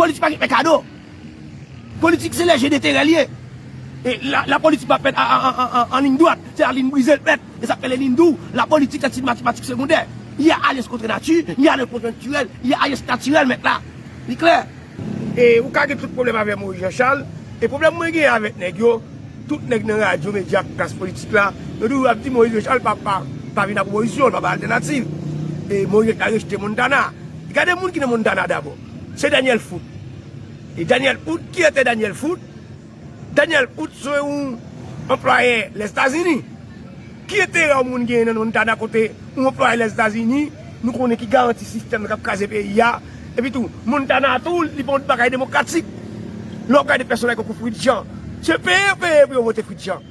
Politik pa gen fè kado. Politik se lè je deterè li ye. E la politik pa fèt an lign dwat. Se a lign brize l fèt. E sa k fè le lign dou. La politik se ti matematik segondè. Y a alyans kontre nati, y a alyans konjonktirèl, y a alyans natirèl mèt la. Li klè? E ou ka gen tout pwoblèm avè Moyiz Janchal. E pwoblèm mwen gen avèk nèg yo, tout nèg nan radyo, medya ak klas politik la, yo toujou ap di Moyiz Janchal pa vin ak opozisyon, l pa bay altènativ. E Moyiz Janchal rejte Montana. Gade moun ki nan Montana dabò. Se Daniel Foot. E Daniel Hood, ki ete Daniel Foot? Daniel Hood se yon anplwaye Lèzetazini. Ki enterè yon moun genyen nan Montana kote yon anplwaye Lèzetazini nou konnen ki garanti sistèm nan k ap kraze peyi a? Epitou, Montana a tou, li pa yon bagay demokratik. Lè w gade pèsonaj tankou Fritz Jean, se peye yo peye pou yo vote Fritz Jean.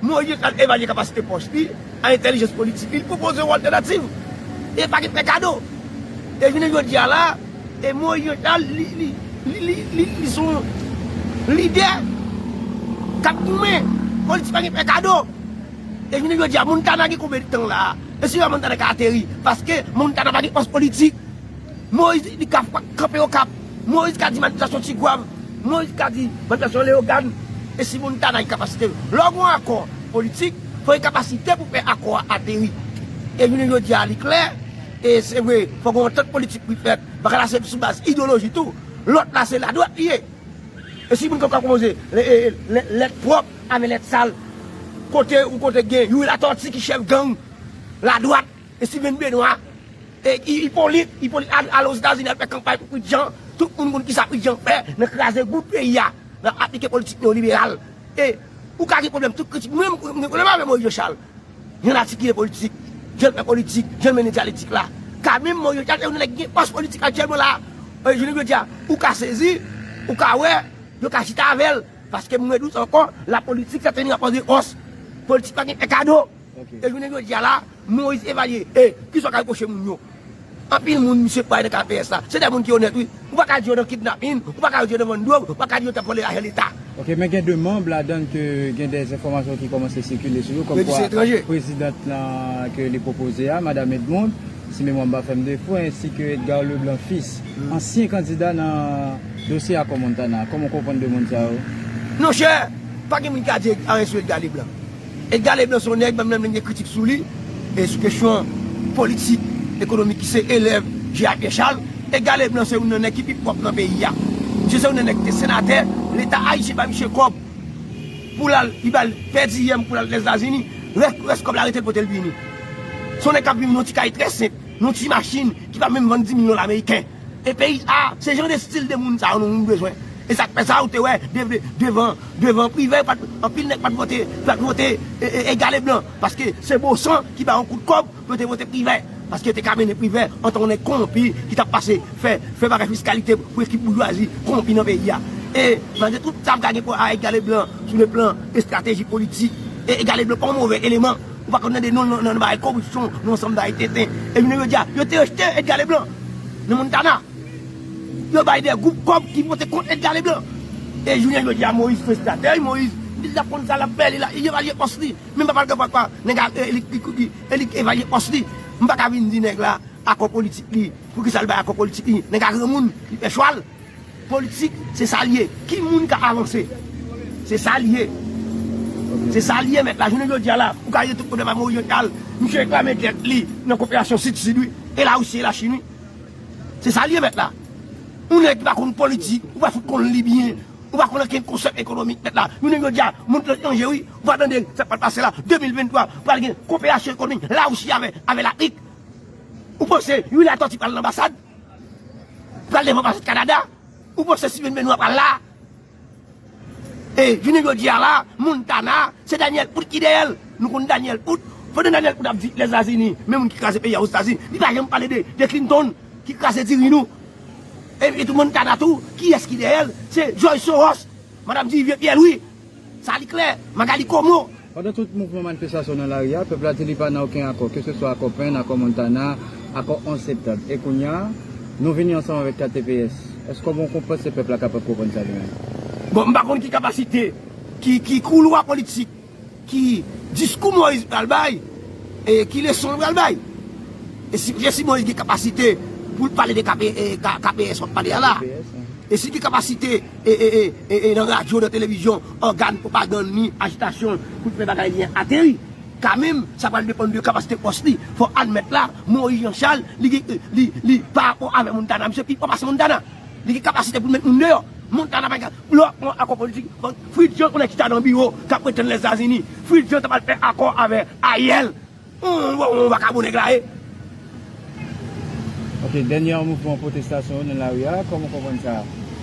Moïse pral evalye kapasite pòs li ak entèlijans politik li, li pwopoze yon altènativ e pa gen fè kado. E jounen jodi a la, e Moïse Jean Charles li, li, li, li, li, li se yon lidè k ap goumen. Politik pa gen fè kado. E jounen jodi a, Montana gen konbe tan la a? E se la Montana ka ateri paske Montana pa gen pòs politik. Moïse li ka kanpe Okap. Moise ka di manipilasyon Tigwav, Moise ka di manipilasyon Leyogàn, e si moun ta nan inkapasite yo. Lè w gen yon akò politik, fò gen kapasite pou fè akò a ateri. E jounen jodi a li klè, e se vre, fò gen yon antant politik pou li fèt, baka la se sou baz idewoloji tou, lòt la se ladwat li ye. E si moun fè kòk konpoze lèt pwòp avè lèt sal, kote yon kote gen Youri Latortue ki chèf gang ladwat, Steven Benoît, Hyppolite, Hyppolite al Ozetazini al fè kanpay pou Pritjean, tout moun konn kisa Pritjean fè nan kraze bout peyi a, nan aplike politik neyoliberal. E ou ka gen pwoblèm tout kritik, mwen menm mwen gen pwoblèm avè Moïse Jean Charles jan l atikile politik, jan l fè politik, jan l mennen dyaletik la. Ka menm Moïse Jean Charles se yon nan nèg ki gen fòs politik aktyèlman la a, jounen jodi a ou ka sezi, ou ka wè yo ka chita avè l, paske mwen di w sa ankò, lapolitik sè teni rapò de fòs, politik pa gen fè kado. E jounen jodi a la, Moise Evalier, e, ki sa w ka repwoche moun yo? Anpil moun misye kwè nan KPS la, se de moun ki onèt wi. Ou pa ka di yo nan kidnapin, ou pa ka di yo nan vann dwòg, ou pa ka di yo t ap vòlè lajan Leta. Ok, men gen 2 manb ladan l ke gen de enfòmasyon ki kòmanse sikile sou yo, kòm kwa prezidant la ke li pwopoze a, Madam Edmond, si memwa m pa fè m defo, ensi ke Edgar Leblanc Fils, ansyen kandida nan dosye akò Montana. Kòman w konprann 2 moun sa yo? Non chè, pa gen moun ki ka di anyen sou Edgar Leblanc. Edgar Leblanc se yon nèg menm lè m gen kritik sou li e sou kesyon politik, ekonomik ki se elèv J. A. Pierre Charles, Edgar Leblanc se youn nan nèg ki pi pwòp nan peyi a. Misye se youn nan nèg ki te senatè, leta ayisyen bay misye kòb pou l al, li ba l pèdiyèm pou l al Lèzetazini, rès kòb la rete l pote l vini. Se yon nèg k ap viv nan yon ti kay trè senp, nan yon ti machin ki pa menm vann 10 mil dola meriken. E peyi sa a, se jan de stil de moun sa yo nou bezwen. E sa k fè sa ou te wè devan devan privè pat anpil nèg pat vote pat vote egal e blan paske se bon san ki bay yon kout kòb pou yo te vote privè paske yo te ka mennen privè antan yon nèg konwonpi ki t ap pase fè fè bagay fiskalite pou ekip boujwazi konwonpi nan peyi a. E malgre tout sa m ka gen pou egal e blan sou le plan estrateji politik e egal e blan pa yon move eleman. Ou pa konn tande non l nan bagay koripsyon, nan ansanm bagay tenten. E jounen jodi a, yo te rejte Edga Leblan nan Montana. Yo bay de gwoup kòb ki vote kont Edga Leblan. E jounen jodi a Moyiz pran estratèj Moyiz. Li t ap konn sa l ap fè, li la, li evalye pòs li. Menm papa l kapab pa, nèg a e li ki, e li k evalye pòs li. M pa ka vin di nèg la akò politik li, poukisa l bay akò politik li. Nèg a granmoun, li pè chwal. Politik se sa l ye. Ki moun ka avanse? Se sa l ye. Se sa l ye mèt la. Jounen jodi a la, ou ka rezoud pwoblèm ak Moyiz Jean Charles. Misye reklame dèt li nan koperasyon Sid-Sid wi. E Larisi e Lachin wi. Se sa l ye mèt la. Yon nèg ki pa konn politik, ou pa fout konn li byen. Ou pa konn okenn konsèp ekonomik mèt la. Jounen jodi a, mond lan chanje wi. Ou pa tande sa k pral pase la. 2023, pral gen koperasyon ekonomik Larisi avè Lafrik. Ou panse Louis Latortue pral nan anbasad? Pral devan paset kanada ou panse steven benoit pral la e jounen jodi a la montana se daniel out ki dèyèl nou konn daniel out pandan daniel out ap di lèzazini men moun ki kraze peyi a ozetazini li pa janm pale de clinton ki kraze diri nou e tou montana tou kiyès ki dèyèl se jòj soros madam di vye pyè lwi. Sa li klè, Magalie Comeau! Pandan tout mouvman manifestasyon nan lari a, pèp la di li pa nan oken akò, ke se swa akò Pen, akò Montana, akò 11 septanm. E kounye a, nou vini ansanm avèk KTPS. Èske w kon panse pèp la kapab konprann sa li menm? Bon, m pa konn ki kapasite, ki, ki koulwa politik, ki diskou Moïse pral bay, e ki leson l pral bay. E si, e si Moïse gen kapasite pou l pale de KP, e, KPS w ap pale a la? E si l gen kapasite. e e e e nan radyo, nan televizyon, ògàn pwopagann ni ajitasyon pou l fè bagay li an ateri. Kanmenm, sa pral depann de kapasite fòs li. Fò w admèt la, Moyiz Jan Chal, li gen, li, li, parapò avè Montana, misye pi fò pase Montana. Li gen kapasite pou l met moun deyò. Montana pa gen, lè w ap pran yon akò politik, Fritz Jean konnen ki sa nan biwo k ap pretann Lèzetazini. Fritz Jean t ap al fè akò avè Ariel. Humm bon yon vakabon nèg la ye. Ok dènyè mouvman pwotestasyon yo nan lari a, kòman w konprann sa?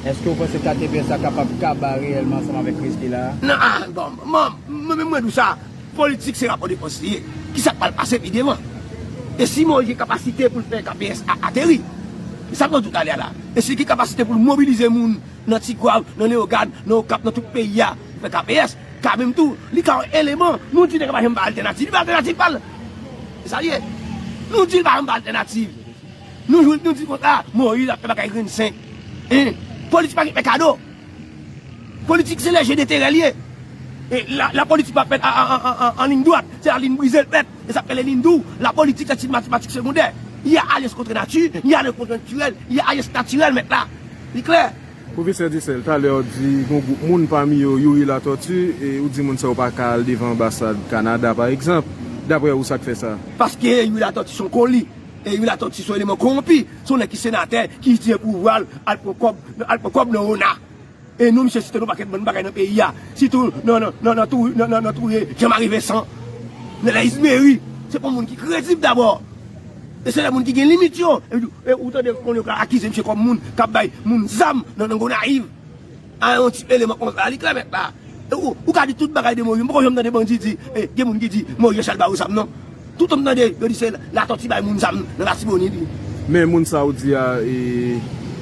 Èske w panse KTVS la kapab kaba reyèlman ansanm avèk kriz ki la a? Nan a bon man mwen menm mwen di w sa, politik se rapò de fòs li ye, kisa k pral pase pi devan? E si Moïse gen kapasite pou l fè KPS a ateri? E sa pran tout ane a la? E si l gen kapasite pou l mobilize moun nan Tigwav, nan Leyogàn, nan Okap, nan tout peyi a pou fè KPS? Ka menm tou, li ka yon eleman. Nou di nèg la pa janm bay altènativ. Li bay altènativ pa l. Se sa li ye. Nou di li pa janm bay altènativ. Nou jwenn nou di kont la, Moïse ap fè bagay grenn senk. Hein! Politik pa gen fè kado. Politik se lè je deterè li ye. E la politik pa fèt an liyn dwat. Se la liyn brize l fèt. E sa k rele liyn dou. La politik se ti matematik segondè. Li a alyans kontre nati, li a alyans kontre natirèl, li a alyans natirèl mèt la. Li klè? Profesè Dyesèl, talè ou di gon gwoup moun pami yo Youri Latortue, ou di moun sa yo pa ka al devan anbasad Kanada pa egzanp, daprè ou sak fè sa? Paske Youri Latortue son koli, Youri Latortue son eleman kowonpi, son nèg ki senatè ki itilize pouvwa l al pran kòb, al pran kòb nan ona. E nou misye site nou pakèt bann bagay nan peyi a, sitou nan touye Jean Marie Vincent, nan Laïs Méry, se pa moun ki kredib dabò. E se lè moun ki gen limit yo. E ou tande moun yo ka akize misye kòm moun kap bay moun zam nan Gonayiv. A yon ti eleman konsa li klè mèt la. Ou ka di tout bagay de Moyiz. M poko janm tande bandi di gen moun ki di Moyiz se al ba yo zam non. Toutan m tande yo di se Latòti bay moun zam nan Latibonit. Men moun sa ou di a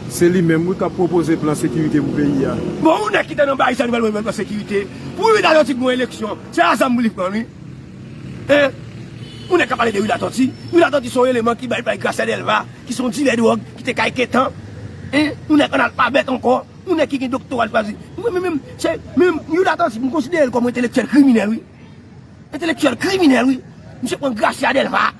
se li menm wi kap pwopoze plan sekirite pou peyi a. Bon yon nèg ki te nan Baristan li pral mande plan sekirite. Pou yon Latòti pran eleksyon se a zam pou li pran wi. 1. Moun nèg k ap pale de Wi Latòti Wi Latòti se yon eleman ki bay bay Grasè Dèlva ki se yon dilè dwòg ki te kay Ketan 1. Yon nèg analfabèt ankò Yon nèg ki gen doktora li pa di Mwen menm menm se menm Wi Latòti m konsidere l kòm yon entelektyèl kriminèl wi Entelektyèl kriminèl wi Misye pran Grasya Dèlva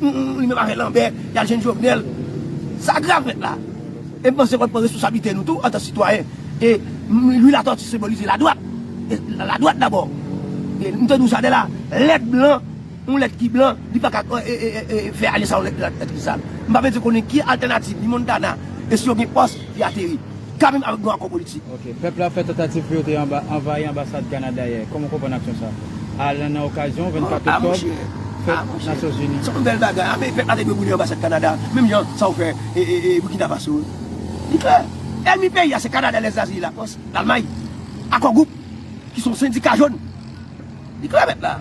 Humm li menm avè lanbè yal jwenn jovenel sa grav nèt la e m panse fòk n pran responsablite nou tou antan sitwayen e louis latortue senbolize ladwat e ladwat dabò e m te di w sa de la lèt blan yon lèt ki blan li paka fè ale sa yon lèt ki sal m pa bezwen konnen ki altènativ ni montana e si yo gen pòs ki ateri. Kabin avèk nou akò politik. Ok. Pèp la fè tantativ pou yo te anvayi anbasad Kanada yè. Kòman w konprann aksyon sa a lan nan okazyon 24 oktòb, fèt Nasyon Zini? Se yon bèl bagay. Ape pèp la te dwe boule anbasad Kanada menm jan sa yo fè Burkina Faso. Li klè. Ènmi peyi a se Kanada, Lèzazi, Lakòs, Lalmay. Akò Gwoup, ki se yon sendika jòn. Li klè mèt la.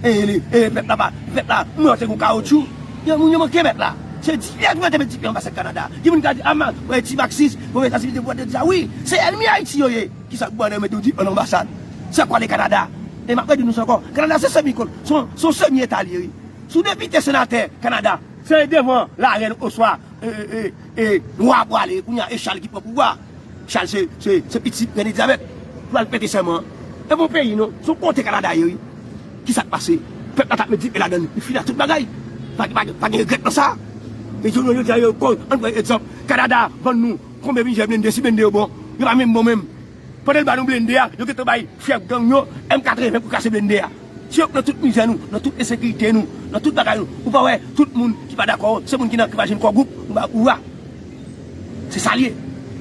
E li, e mèt la pa, mèt la mwen se yon kawoutchou. Gen moun yo manke mèt la. Se di yè ki mete met di pye anbasad Kanada. Gen moun ki di a man, wè ti maksis, wè wè Etazini te pou te di sa wi. Se ènmi Ayiti yo ye. Ki sa k ban nan mete w di an anbasad. Se ak w ale Kanada. E m ap redi nou sa ankò, Kanada se semi kol, se yon semi eta li ye wi. Si w depite, senatè Kanada. Se devan larèn oswa e, e, e, wa pou w ale. Kounye a e Chal ki pran pouvwa a. Chal se se se pitit René Diabète ki pral prete sèman an. E bon peyi non, son konte Kanada ye wi. Kisak pase? Pèp la tap met dife ladann li fini ak tout bagay. Pa pa pa gen regrèt nan sa. Men jounen jodi a yo kòl ann pran egzanp Kanada vann nou konbyen plizyè blende si blende yo bon. Yo pa menm bon menm. Pandan yo ba nou blende a yo gentan bay chèf gang yo M 80 pou kase blende a. Si yo k nan tout mizè nou, nan tout ensekirite nou, nan tout bagay nou, ou pa wè tout moun ki pa dakò se moun ki nan ki pa jwenn kò gwoup ou ba ou a. Se sa l ye.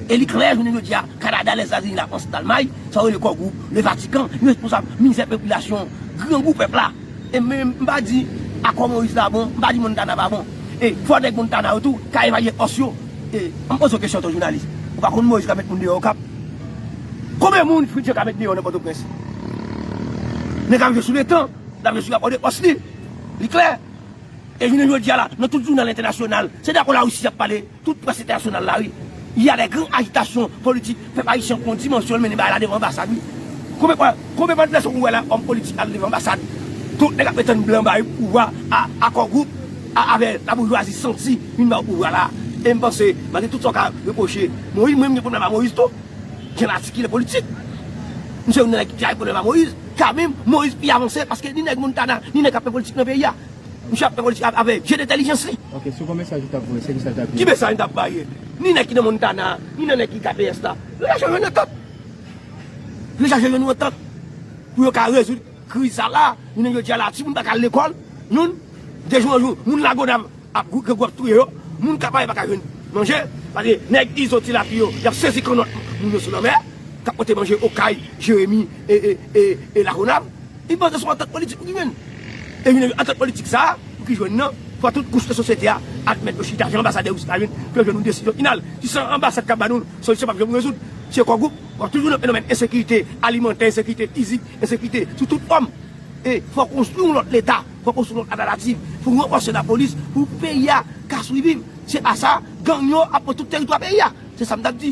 E li klè jounen jodi a, Kanada, Lèzetazini, Lafrans, Dalmay, sa yo rele Kò Gwoup, Levatikan, yo responsab mizè popilasyon grangou pèp la. E m m pa di Akò Moyiz la bon, m pa di Montana pa bon. E fò nèg Montana yo tou ka evalye òs yo. E an m poze w kesyon an ton jounalis, ou pa konn Moyiz ka met moun deyò Okap? Konben moun Fritz Jean ka met deyò nan Pòtoprens? Nèg la ap jwe sou letan, l ap jwe sou rapò de fòs li. Li klè, E jounen jodi a la, nan tout jounal entènasyonal, se de akò Larisi y ap pale, tout près entènasyonal la wi. Y a de gran ajitasyon politik, pèp ayisyen pran dimansyon l, mennen bagay la devan anbasad wi. Konbe fwa, konbe fwa dimansyon ou wè la, òm politik al devan anbasad, tout nèg ap pretann blan ba yo pouvwa a, akò gwoup a avè laboujwazi santi vin ba yo pouvwa la. E m panse, malgre tout sa w ka repwoche Moïse, mwen m gen pwoblèm a Moïse tou, jan l atikile politik. M se youn nan nèg ki te gen pwoblèm a Moïse. Kanmenm, Moïse pi avanse paske ni nèg Montana, ni nèg kap fè politik nan peyi a. Misye ap fè politik avè je dentèlijans li. Ok, sou kon mesaj ou tap voye, se kisa l tap di? Ki mesaj m tap vaye? Ni nèg ki nan Montana, ni nan nèg ki KPS la, yo ta janm jwenn antant. Yo ta janm jwenn yon antant pou yo ka rezoud kriz sa la. Jounen jodi a la, timoun pa ka al lekòl. Youn, de jou an jou, moun lago dam. Ap gou grangou ap touye yo moun kapa yo paka jwenn manje paske nèg izo ti lafi yo yap sezi kannòt moun yo sou lanmè kap pote manje okay jeremi e lagonav li panse son antant politik pou ki jwenn e jwenn antant politik sa pou ki jwenn nan fò tout kouch nan sosyete a admèt yo chita jan anbasadè yo chita jwenn pou yo jwenn yon desizyon final si san anbasad kap ba nou solisyon pap janm rezoud se kò gwoup wap toujou nan fenomèn ensekirite alimantè ensekirite fizik ensekirite sou tout fòm e fò konstwi yon lòt leta. Pwopoze yon altènativ pou ranfòse lapolis pou peyi a ka swiviv. Se pa sa, gang yo ap pran tout teritwa peyi a. Se sa m t ap di.